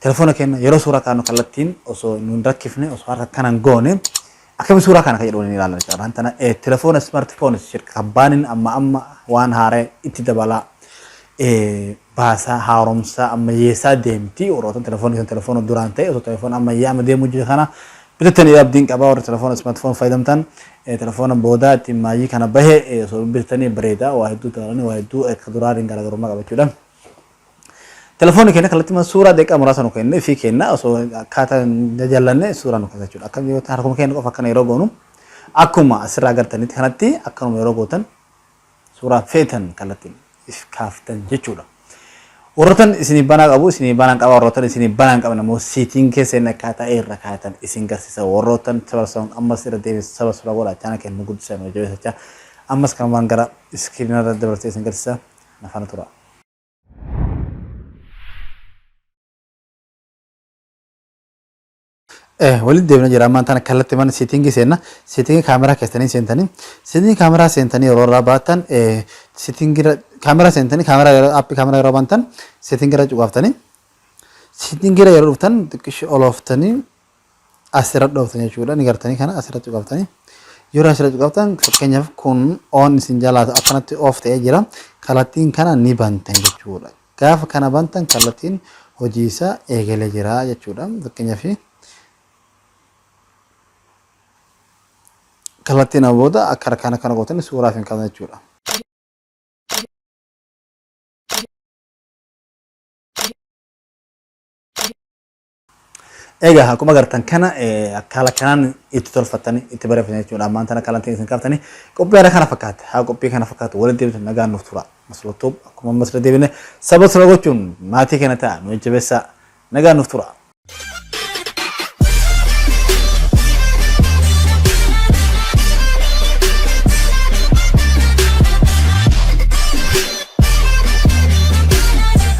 Telefoona keenya yeroo suuraa kaanu kallattiin osoo nu hin rakkifne osoo harka akkana hin goone akkami suuraa kana kan jedhu waliin ilaallan jechuudha. Waan tana eh, telefoona smartphones shirka kabbaanin amma amma waan haaree itti dabalaa eh, baasaa haaromsaa ammayyeessaa deemti. Warroota telefoonni kan telefoona duraan ta'e osoo telefoona ammayyaa amma deemuu jiru kana bitattanii abdiin qabaa warri telefoona smartphone fayyadamtan eh, telefoona boodaa ittiin maayyii kana bahe eh, osoo bitattanii bareeda waa hedduu dabalanii waa hedduu eh, ka duraatiin garaagarummaa qabachuudha. Telefoonni keenya kallattii mana suuraa daqiiqaa muraasa nu kenne fi kenna osoo akkaataa hin jaallanne suuraa nu kasa jechuudha. Akka yoo ta'an harkuma keenya qofa akkana yeroo goonu akkuma asirraa agartanitti kanatti akkanuma yeroo gootan suuraa feetan kallattiin if kaaftan jechuudha. Warroottan isinii banaa qabu isinii banaan qaba warroottan isinii banaan qabna immoo siitiin keessa inni akkaataa irra kaayatan isin garsiisa warroottan sabarsoon ammas irra deebiin sabarsura godha chaana keenya nu guddisan hojii jechaa ammas kanumaan gara iskiriinarra dabarsee isin garsiisa nafana tura. walitti deemna jira ammaan tana kallatti mana siitingii seenna siitingii kaameraa keessanii seentanii siitingii kaameraa seentanii yeroo irraa baatan siitingii kaameraa seentanii kaameraa yeroo aappii kaameraa yeroo bantan siitingii irra cuqaaftanii siitingii irra yeroo dhuftan xiqqishii olooftanii as irra dhooftan jechuudha ni gartanii kana as irra cuqaftanii yeroo as irra cuqaftan fakkeenyaaf kun oon isin jalaatu akkanatti oof ta'ee jira kallattiin kana ni bantan jechuudha gaafa kana bantan kallattiin hojii isaa eegalee jira jechuudha fakkeenyaaf kallattiin booda akka harkaan akkana gootanii suuraaf hin qabne jechuudha. Egaa akkuma agartan kana akkaala kanaan itti tolfattanii itti bareeffatan jechuudha. Ammaan tana akkaala itti isin kaaftanii qophii haala kana fakkaate haa qophii kana fakkaatu walitti deebitu nagaan nuuf tura. Maslootoob akkuma ammas irra deebine saba saba gochuun maatii kana ta'a nu jajjabeessaa nagaan nuuf tura.